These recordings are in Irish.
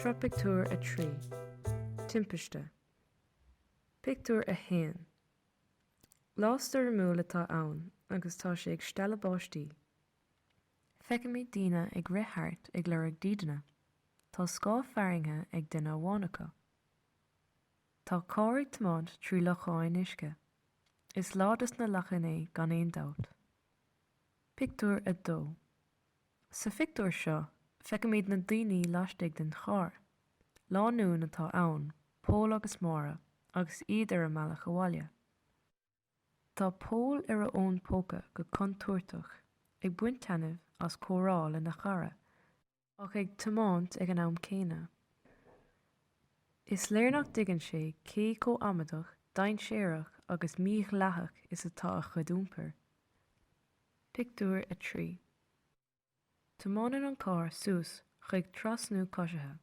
Sraith pictiúr a trí, Timpiste. Pictiúr a haon, Lá stoirmiúil atá ann agus tá sé ag stealladh báistí. Feicimid daoine ag rith thart ag lorg dídeana. Tá scáth fearthainne ag duine amháin acu. Tá carr ag tiomáint trí lochán uisce. Is lá dos na lachain é gan aon dabht. Pictiúr 2 Sa phictiúr seo, feicimid na daoine laistigh den charr. Lánúin atá ann, Pól agus Máire, agus iad ar a mbealach abhaile. Tá Pól ar a fhón póca go contúirteach, ag baint taitneamh as comhrá lena chara. ach ag tiomáint ag an am céanna. Is léir nach dtuigeann sé cé chomh amadach, dainséarach agus mí-dhleathach is atá a chuid iompair. Pictiúr 3 Tiomáineann an carr suas chuig trasnú coisithe,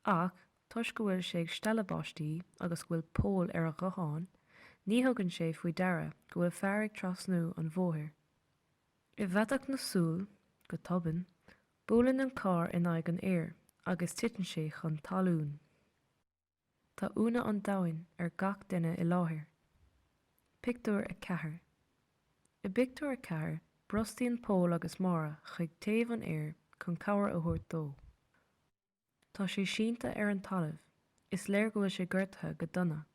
ach toisc go bhfuil sé ag stealladh báistí agus go bhfuil Pól ar a ghuthán, ní thugann sé faoi deara go bhfuil fear ag trasnú an bhóthair. I bhfaiteadh na súl, go tobann, Buaileann an carr in aghaidh an fhir agus titeann sé chun talún. Tá ionadh an domhain ar gach duine i láthair. Pictiúr 4 I bpictiúr a ceathair, brostaíonn Pól agus Máire chuig taobh an fhir chun cabhair a thabhairt dó. Tá sé sínte ar an talamh, is léir go bhfuil sé gortaithe go dona.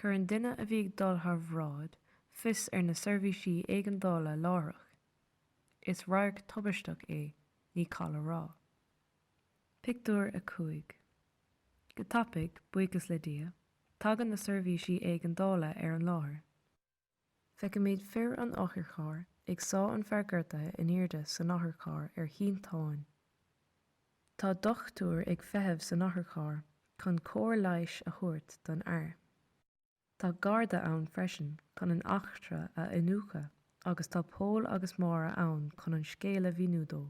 Cuireann duine a bhí ag dul thar bhráid fios ar na seirbhísí éigeandála láithreach. Is radharc tubaisteach é, ní call a rá. Pictiúr 5 Go tapaidh, buíochas le Dia, tagann na seirbhísí éigeandála ar an láthair. Feicimid fir an otharchairr ag sá an fear gortaithe in airde san otharcharr ar shínteán. Tá dochtúir ag feitheamh san otharcharr chun cóir leighis a thabhairt don fhear. Tá garda ann freisin chun an eachtra a iniúchadh agus tá Pól agus Máire ann chun an scéal a mhíniú dó.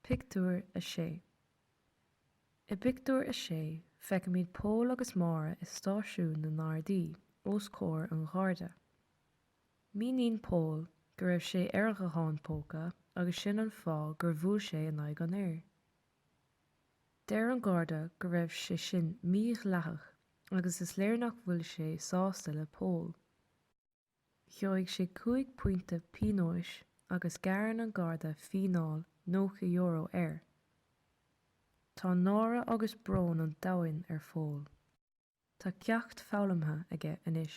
Pictiúr 6 I bpictiúr a sé, feicimid Pól agus Máire i stáisiún na nGardaí, os comhair an Gharda. Míníonn Pól go raibh sé ar a ghuthán póca agus sin an fáth gur bhuail sé in aghaidh an fhir. Deir an Garda go raibh sé sin mí-dhleathach agus is léir nach bhfuil sé sásta le Pól. Gheobhaidh sé cúig phointe pionóis agus gearrann an Garda fíneáil €90 air. Tá náire agus brón an domhain ar Phól. Tá ceacht foghlamtha aige anois.